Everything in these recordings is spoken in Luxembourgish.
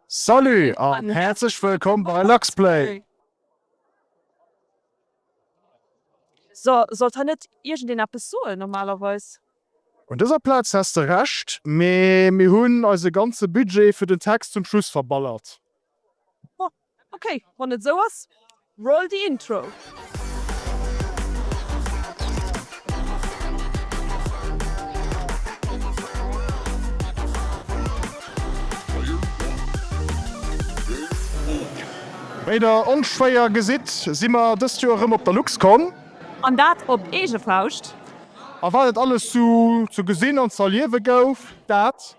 Salut an häerzlech wëllkomm bei Luxplay! So, sollt hei net iergendeen eppes soen normalerweis? Un dëser Plaz häss de Recht, mee mir hunn eise ganze Budget fir den Text zum Schluss verballert. Bon, okay, wann et esou ass. Roll the intro. Wéi der onschwéier gesitt, si mer dëst Joer erëm op der LuxCon. An dat op eege Fauscht. A wat et alles sou ze gesinn an z'erliewe gouf, dat.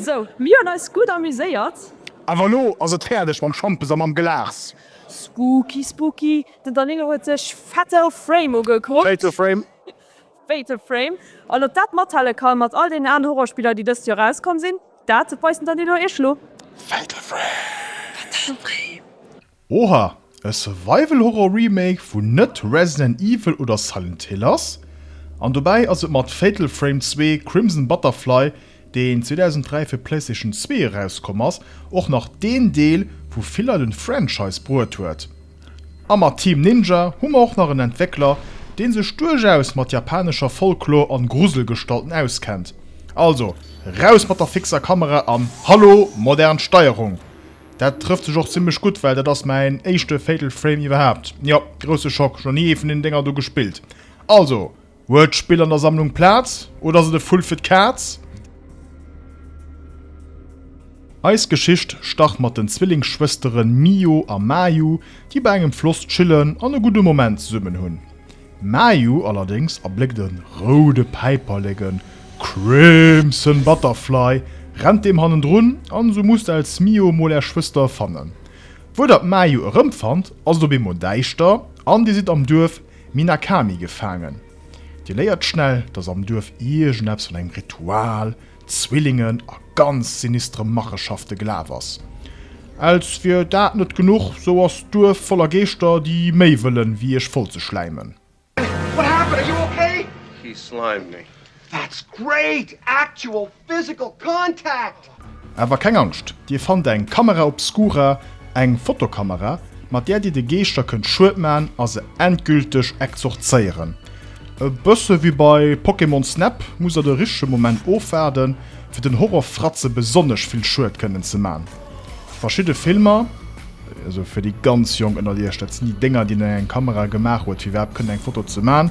Sou, mir hunn eis gutt amuséiert. Awer elo ass et fäerdeg mam Schampes a mam Glas. Spooky, spooky, den Danilo huet sech Fatal Frame ugekuckt. Fatal Frame. Fatal Frame, an ob dat mathale kann mat all deenen anen Horrorspiller déi dëst Joer erauskomm sinn, dat weisen dann déi no iech elo. Fatal Frame. Oha, e Survival Horror Remake vun net Resident Evil oder Silent Hill ass, an dobäi ass et mat Fatal Frame 2 Crimson Butterfly, deen 2003 fir d'Playstation zwee erauskomm ass, och nach deen Deel wou Villa den Franchise bruet huet. A mat Team Ninja hu mer och nach en Entwéckler deen sech duerchaus mat japanescher Folklor an Gruselgestalten auskennt. Also raus mat der fixer Kamera an hallo modern Steierung! Dat trëfft sech och zimlech gutt well dat ass mäin éischte Fatal Frame iwwerhaapt. Jo, grousse Schock, ech hu nach ni ee vun deenen Dénger do gespillt. Also Huet d'Spill an der Sammlung Plaz oder ass et e Vull fir d'Kaz? Eis Geschicht start mat den Zwillingsschwëstere Mio a Mayu, déi bei engem Floss chillen an e gudde Moment zesummen hunn. Mayu allerdéngs erbléckt e roude Päiperleken, Crimson Butterfly, rennt deem hannendrun an esou musst als Mio mol är Schwëster fannen. Wou der d'Mayu erëmfannt, ass et op eemol däischter an dir sidd am Duerf. Minakami gefaangen. Dir léiert schnell, dass am Duerf iergendeppes vun engem Ritual, Zwillingen a ganz sinistre Machenschafte gelaf ass. Als wier dat net genuch, sou ass d'Duerf voller Geeschter, déi méi wëllen, wéi iech voll ze schläimen. What happened? Are you okay? He slimed me. That's great! Actual Physical contact! Awer keng Angscht, Dir fannt eng Camera obscura, eng Fotokamera, mat där Dir de Geeschter kënnt Schued man a se endgülteg exorzéieren. E bësse wéi bei Pokémon Snap musst Der de richtege Moment ofwaarden, fir den Horrorfratze besonnesch vill Schued kënnen ze man. Verschidde Filmer, also fir déi ganz Jonk ënnert Iech, dat sinn déi Dénger, déi een an eng Kamera gemaach huet, fir iwwerhaapt kënnen eng Foto ze man,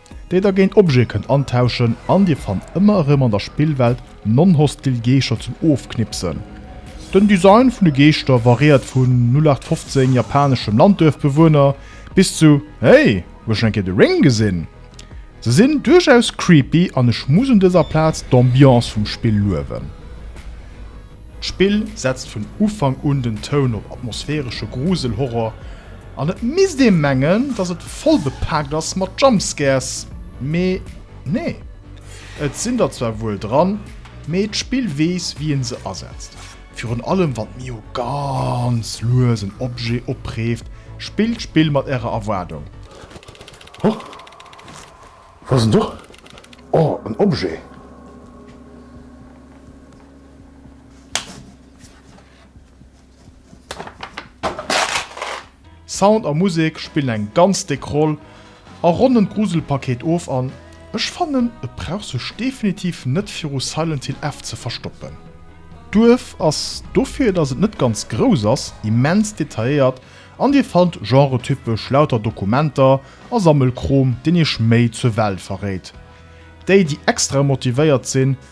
déi der géint Objete kënnt antauschen an dir fannt ëmmer erëm an der Spillwelt non-hostil Geescher zum Ofknipsen. Den Design vun de Geeschter variéiert vun 0815 japaneschem Landduerfbewohner bis zu Hey, hues schon eng Kéier The Ring gesinn? Se sinn duerchaus creepy an ech muss un dëser Plaz d'Ambiance vum Spill luewen. D'Spill setzt vun Ufank un den Toun op atmosphäresche Grusel-Horror. An et misst ee mengen, dass et voll bepaakt ass mat Jumpscares, mee nee. Et sinn der zwar wuel dran, mee d'Spill weess, wéi ee se asetzt. Virun allem wann d'Mio ganz lues en Objet opreeft, spillt d'Spill mat ärer Erwaardung. Huch, wou ass en do? Oh, en Objet! Sound a Musek spillen eng ganz déck Roll a ronnen d'Gruselpaket of an ech fannen et brauch sech definitiv net viru Silent Hill F ze verstoppen. D'Duerf ass, dofir dass et net ganz grouss ass, immens detailléiert an dir fannt genretypesch lauter Dokumenter a Sammelkrom deen iech méi zur Welt verréit. Déi déi extra motivéiert sinn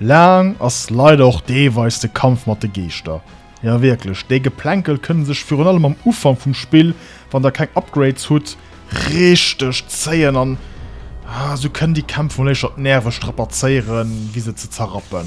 Laang ass leider och deelweis de Kampf mat de Geeschter. Jo wierklech, déi Geplänkel kënne sech virun allem am Ufank vum Spill, wann der keng Upgrades hutt, richteg zéien an sou kënnen déi Kämpf mol éischter d'Nerve strapazéieren, wéi se ze zerrappen.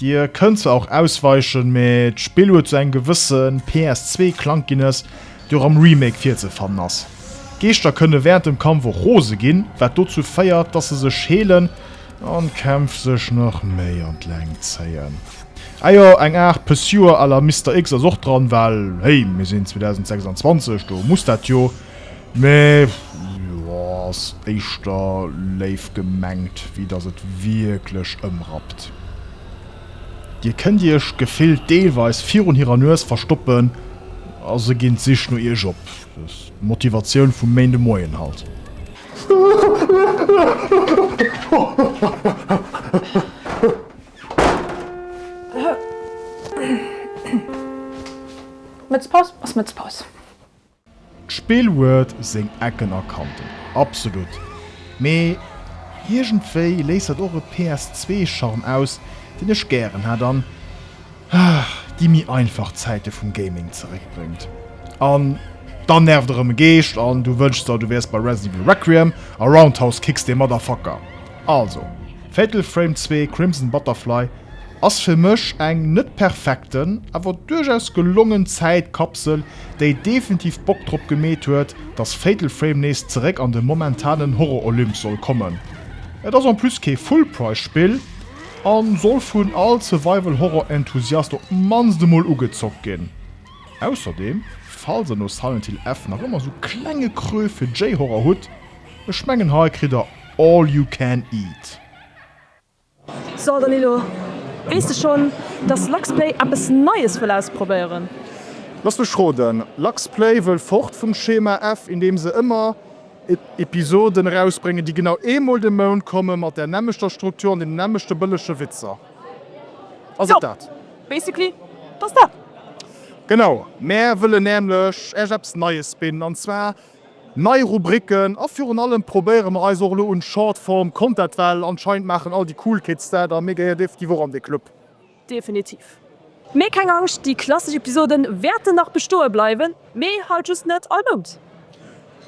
Dir kënnt zwar och ausweichen, mee d'Spill huet sou eng gewësse PS2 Klankginess, déi och am Remake virzefannen ass. D'Geeschter kënne während dem Kampf och rose ginn, wat dozou féiert, dass se sech heelen an d'Kämpf sech nach méi an d'Längt zéien. Ah jo, eng Aart Pursuer à la Mister X ass och dran, well hey, mir sinn 2026, do muss dat jo Mee jo, ass éischter léif gemengt, wéi dass et wierklech ëmrappt. Dir kënnt iech gefillt deelweis virun hirer Nues verstoppen a se ginn d'Sich no iech op. D'Motivatioun vum Méindemoien halt. Mëtzpaus ass Mëtzpaus. D'Spill huet seng Ecken a Kanten, absolut, mee iergendwéi léisst dat och e PS2-Charme aus, deen ech gären hätt an déi méi einfach Zäite vum Gaming zeréckbréngt. An dann nervt erëm e Geescht an du wënschs der, du wäers bei Resident Evil Requiem a Roundhouse Kicks dee Motherfucker. Also, Fatal Frame 2, Crimson Butterfly ass fir mech eng net perfekten, awer duerchaus gelongen Zäitkapsel, déi definitiv Bock drop gemeet huet, dass Fatal Frame nees zeréck an de momentanen Horror-Olymp soll kommen. Et ass en plus kee Full-Price-Spill a soll vun all Survival-Horror-Enthusiast op d'mannst emol ugezockt ginn. Ausserdeem, falls der no Silent Hill F nach ëmmer sou klenge Creux fir J-Horror hutt, Ech mengen hei kritt der all you can eat. So Danilo, weess de schonn, dass Luxplay eppes Neies wëll ausprobéieren? Lass mech roden, Luxplay wëll fort vum Schema F, indeem se ëmmer Episoden erausbréngen, déi genau eemol de Mount kommen, mat där nämmlechter Struktur an deenen nämmlechte bëllege Witzer. Ass et dat? Jo, basically, et ass dat. Genau, mär wëllen nämlech Iech eppes Neies bidden, an zwar Nei Rubriken a virun allem probéiere mer eis och elo un Shortform Content well anscheinend maachen all déi cool Kids dat a mir gehéier definitiv och an dee Club. Definitiv. Mee keng Angscht, déi klassesch Episoden wäerten nach bestoe bleiwen, mee halt just net all Mount.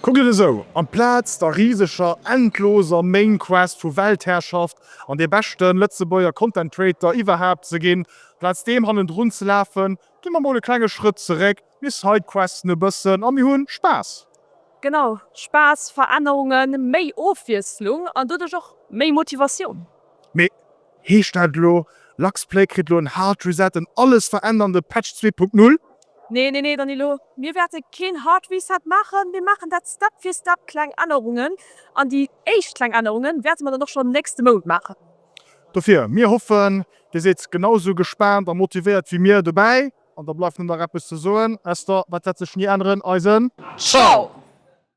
Kuckt et esou, amplaz der riseger, endloser Main Quest vu Weltherrschaft an dee beschten Lëtzebuerger Content Creator iwwerhaapt ze ginn, amplaz deem hannendrun ze lafen, gi mer mol e klenge Schrëtt zeréck Mir sidequesten e bëssen a mir hu Spaass. Genau, Spaass, Verännerungen, méi Ofwiesslung an doduerch och méi Motivatioun. Mee heescht dat elo, Lux Play kritt elo en Hard Reset, en alles verännernde Patch zwee Punkt Null? Nee, nee, nee, Danylo, mir wäerte keen Hard Reset maachen. Mir maachen dat Step fir Step, kleng Ännerungen. An déi éischt kleng Ännerungen wäerte mer dann och schonn nächste Mount maachen. Dofir, mir hoffen, Dir sidd genausou gespaant a motivéiert wéi mir dobäi. An da bleift nur nach eppes ze soen, Esther, wat wärt sech nie änneren, eisen Ciao!